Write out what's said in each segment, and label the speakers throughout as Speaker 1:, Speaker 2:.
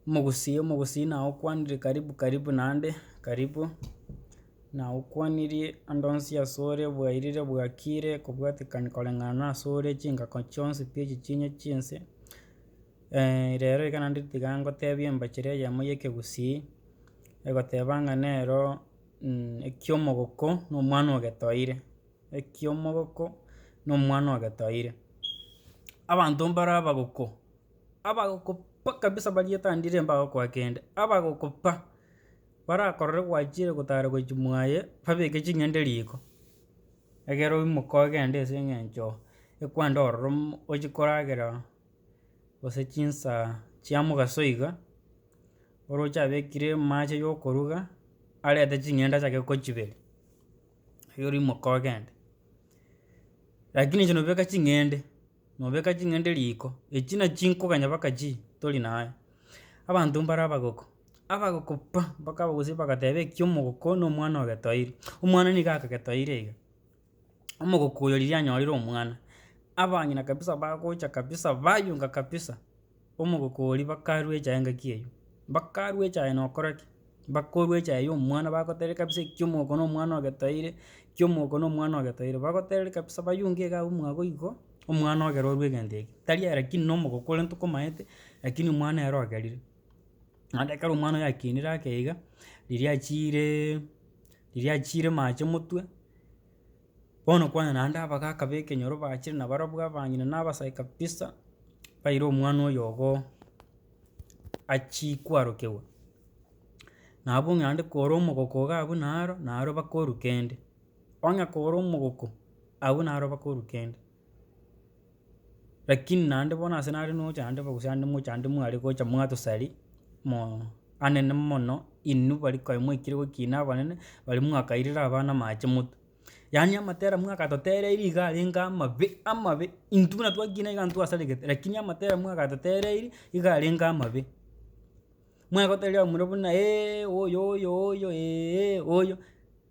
Speaker 1: Omogusii omogusii naye okwanire karibu karibu naende, karibu, naye okwanirie ande onsi ase ore bwairire bwakire kobwatekania koreng'ana na ase ore chingako chionsi pi echi chine chinse, rero iga naende tiga ngotebie embachera eyemo ya ekegusii, egoteba ng'a nero ekia omogoko na omwana ogetoire, ekia omogoko na omwana ogetoire. Abanto mbaro abagoko. Abagokopa kabisa baria etandire mbagokoa kende, abagokopa barakorore gwachire gotara gochi mwaye babeke ching'ende riko, egere oimoke ogende ase eng'encho ekwande ororomo ochi koragera gose chinsaa chia mogaso iga, oroche abekire amache ya okoruga, arete ching'ende achake gochiberi, erio rimoke ogende. Rakini inche nobeka ching'ende. Nobeka ching'ende riiko, echi na chinkoganya baka chi tori naye. Abanto mbare abagoko, abagoko pa, mpaka abagusii bagateba ekia omogoko na omwana ogetoire, omwana nigo akagetoire iga. Omogoko oyo riria anyorire omwana, abang'ina kabisa bagocha kabisa bayunga kabisa. omogokori bakarue echae engaki eywo, bakarue echae na okora ki, bakorua echae ya omwana bagotebi kabisa ekio omogoko na omwana ogetoeire, ekio omogoko na omwana ogetoeire, bagotebi kabisa bayunge iga abwo mwabo igo, omwana ogere orue egento eke, tari aye rakini na omogoko ore ntokomaete, rakini omwana ere ogerire. Naende ekero omwana oyo akenire ake iga, riria achiireee riria achiire mache motwe. Bono kwane naende abagaka b'ekenyoro bachire nabarabwo abang'ina na abasae kabisa, baire omwana oyogo achie kwarokegwa. Nabo ng'a naende kore omogoko iga abwo naro, naro bakoruka ende. Onye kore omogoko, abwo naro bakoruka ende. Lakini naende bono ase nare nocha ande bo gose ande mocha ande mware gocha mwatosari moo anene mono inwe bari konya mwaikire gokina abanene bari mwakairire abana amache motwe. Yaani amatera mwakatotereiri iga arenge amabe amabe, intwe buna twakina iga ntwasaregete lakini amatera mwakatotereiri iga arenge amabe. Mwagotebiwa omorero buna eeh oyo oyo oyo eeh oyo,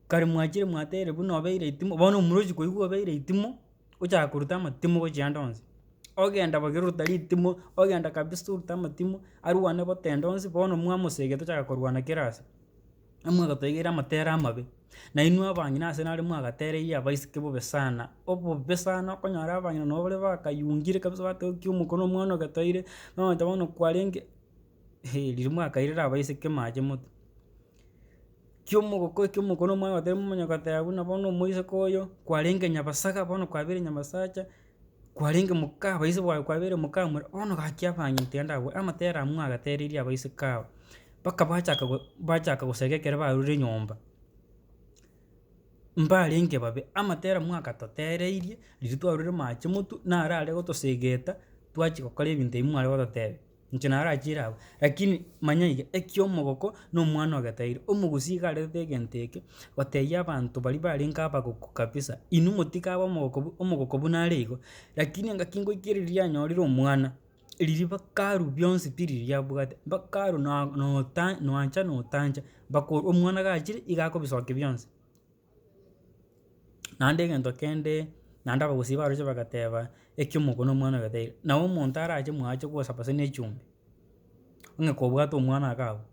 Speaker 1: kare mwachire mwateire buna obeire etimo, bono omura ochia koigwa obeire etimo, ochaka koruta amatimo gochia ande onsi. Ogenda bobe ruta ritimo, ogenda kabisa orute amatimo, arwane bote ande onsi, bono mwamosegete ochaka korwana kera ase, amwagategeire amatere amabe, na inwe abang'ina ase nare mwagatereiri abaiseke bobe sana, obobe sana okonyora abang'ina nabo bare bakayungire kabisa bateba ki omokoro na omwana ogetoire, nonya bono kwarenge. riria mwakairire abaiseke mache moto, kiomogoko ekio omokoro omwabo oteba momanya goteba buna bono omoiseke oyo kwarenge nyabasaga bono kwabeire nyabasacha, kwarenge mokaa abaise baye kwabeire mokaa more bono gaki abang'ina tiga ndabue amatere aywo mwagateririe abaiseke aba, mpaka bachaka go bachaka gosegeka ekero barure nyomba, mbarenge babe amatere mwagatotereirie riria twarure mache motu narare gotosegeta twachi gokora ebinto ebi mware gototebia. Inche narachiire abwo, rakini manya iga, ekio omogoko na omwana ogetairi, omogusii iga arerete egento eke, gotebia abanto baria barenge abagoko kabisa, inwe motiga abe omogoko bu omogoko buna are igo, rakini engaki ngoika riria anyorire omwana, riria bakaru bionsi pi riria abwate, bakaru na nota noancha na otancha, bako omwana gachire iga akobisokia bionsi. Naende egento kende, naende abagusii baroche bagateba, Ekiomoko nomwana oyo taira. Na omonto arache mwache gosaba gose nechumbi, onye kobwate omwana iga abwo,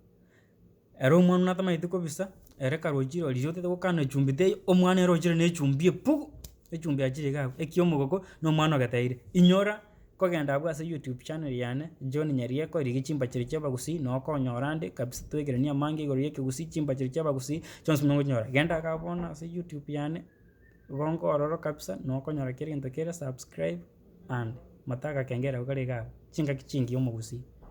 Speaker 1: ere omwana oyio natamaeti kobisa, ere karochi rori otete gokana echumbi teiyo, omwana ere ochire nechumbi eye pugu, echumbi yachire iga abwo, ekiomogoko nomwana oyo taira. Inyora. Kogenda abwo ase YouTube channel yane John Nyarieko rigia chimbachari chia abagusii na okonyora ande kabisa twekerania amange igoro ya ekegusii chimbachari chia abagusii chionsi buna okochinyora. Genda iga bono ase YouTube yane igo nkorora kabisa na okonyora kera egento kera subscribe and mata agakengele ako kare igaa chingaki chingiya omogusii.